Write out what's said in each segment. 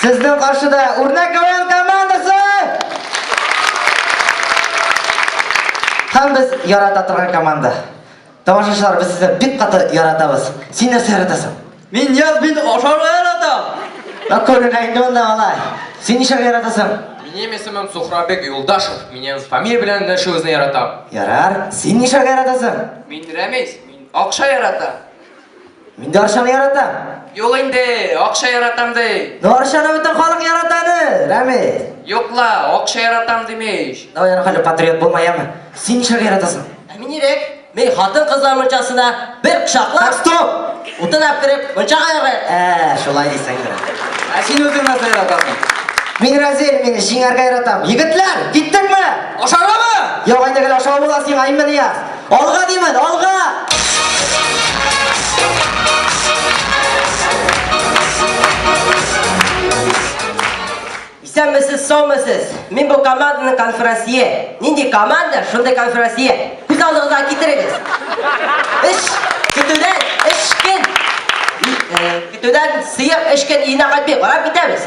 Сезнең каршыда үрнәк КВН командасы! Һәм без ярата торган команда. Тамашачылар, без сезне бик каты яратабыз. Син нәрсә яратасың? Мин яз бит ашарга яратам. Ә күрергә инде монда алай. Син нишләргә яратасың? Минем исемем Сухрабек Юлдашев. Минем фамилия белән эндәшүегезне яратам. Ярар. Син нишләргә яратасың? Мин Рәмис. Мин акча яратам. Мин дә Арчаны яратам. Юк инде, акча яратам ди. Ну Арчаны бөтен халык ярата аны, Рәми. Юк ла, акча яратам димеш. Давай аны хәле патриот булма яме. Син нишләр яратасың? Ә мин ирек. Мин хатын кызлар мунчасына бер кочаклап. Так, стоп! Утынап кереп, мунчага ярый. Ә, шулай дисәң дә. Ә син үзең нәрсә яратасың? Мин Разел, мин җиңәргә яратам. Егетләр, киттекме? Ашаргамы? Юк, инде гел ашау була сиңа, имени яз. Алга димен, алга! Исәнмесез, саумысыз. Мин бу команданың конферансье. Нинди команда, шундый конферансье. Күз алдыгызга китерегез. Эш көтүдән эш көн. Э, көтүдән сыер эш көн өенә кайтмый, карап китәбез.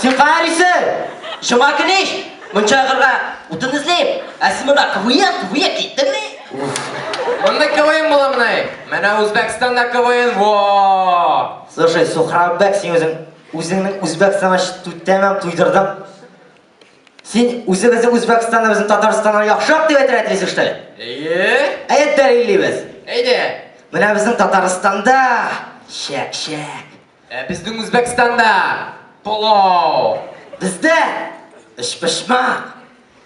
Син карыйсың! Шуңа килеш, мунча ягырга утын эзлим. Ә син монда КВН, КВН киттеңме? Монда КВН буламыни? Менә Үзбәкстанда КВН, во! Слушай, Сухраббек, син үзең үзеңнең Үзбәкстанга чтү тәмам туйдырдың. Син үзебезне Үзбәкстаннан, безне Татарстаннан яхшырак дип әйтергә телисең, что ли? Әйе. Әйе, дәлиллибез. Әйдә. Менә безнең Татарстанда чәк-чәк. Ә безнең Үзбәкстанда пылау. Бездә өчпочмак.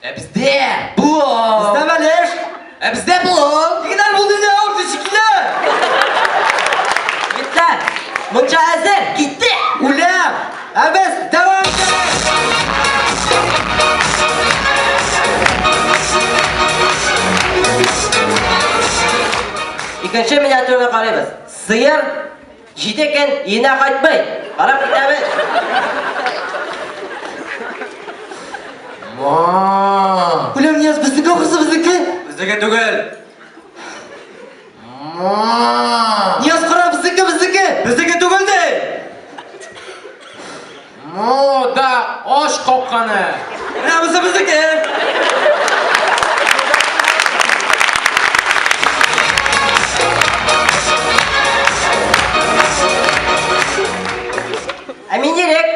Ә бездә пылау. Бездә бәлеш. Ә бездә бу финал булды инде авызы шикелле. Егетләр, мунча әзер, киттек! Үләм! Ә без дәвам итәбез! Икенче миниатюраны карыйбыз. Сыер Җиде көн өенә кайтмый. Карап китәбез. Ма. Үлем яз безнеке ахрысы безнеке. Безнеке түгел. Ма. Яз кара безнеке безнеке. Безнеке түгел ди. Мода ач капканы! Менә бусы безнеке! Ә мин ирек!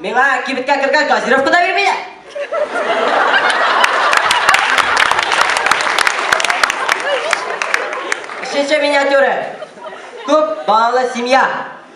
Миңа кибеткә кергән газировка да бирмиләр! Өченче миниатюра. Күп балалы семья.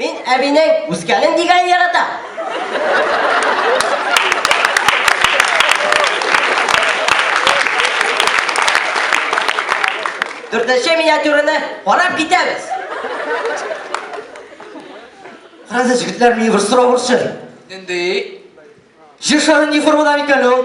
Мин әбинең үскәнен дигәнен яратам. Дүртенче миниатюраны карап китәбез. Карады җегетләр мин бер сорау борчы. Нинди? Җир шары ни формада микән ул?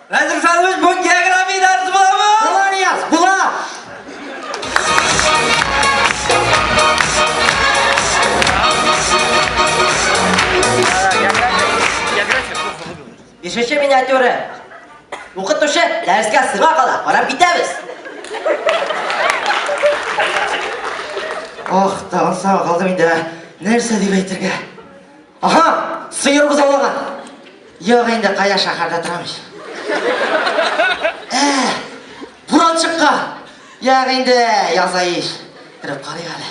Әзерсәнмез бу география дәресе буламы? Була, Рияз, була! Бишенче миниатюры. Укытучы дәрескә сыңа кала, карап китәбез. Ох, тагын саңа калдым инде. Нәрсә дип әйтергә? Аха, сыер бозаулаган. Юк инде, кая шәһәрдә торам ич. Ә, буран чыккан. Юк инде, яза ич. Кереп карыйк әле.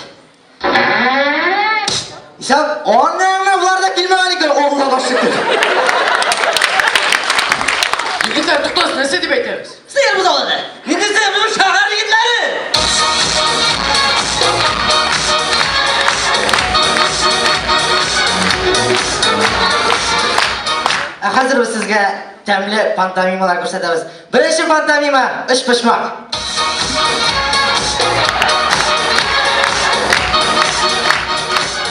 Исәп, анаңны болар да килмәгән икән, Аллага шөкер. Егетләр, туктагыз, нәрсә дип әйтәбез? Ә хәзер без сезгә тәмле пантомималар күрсәтәбез. Беренче пантомима өч почмак.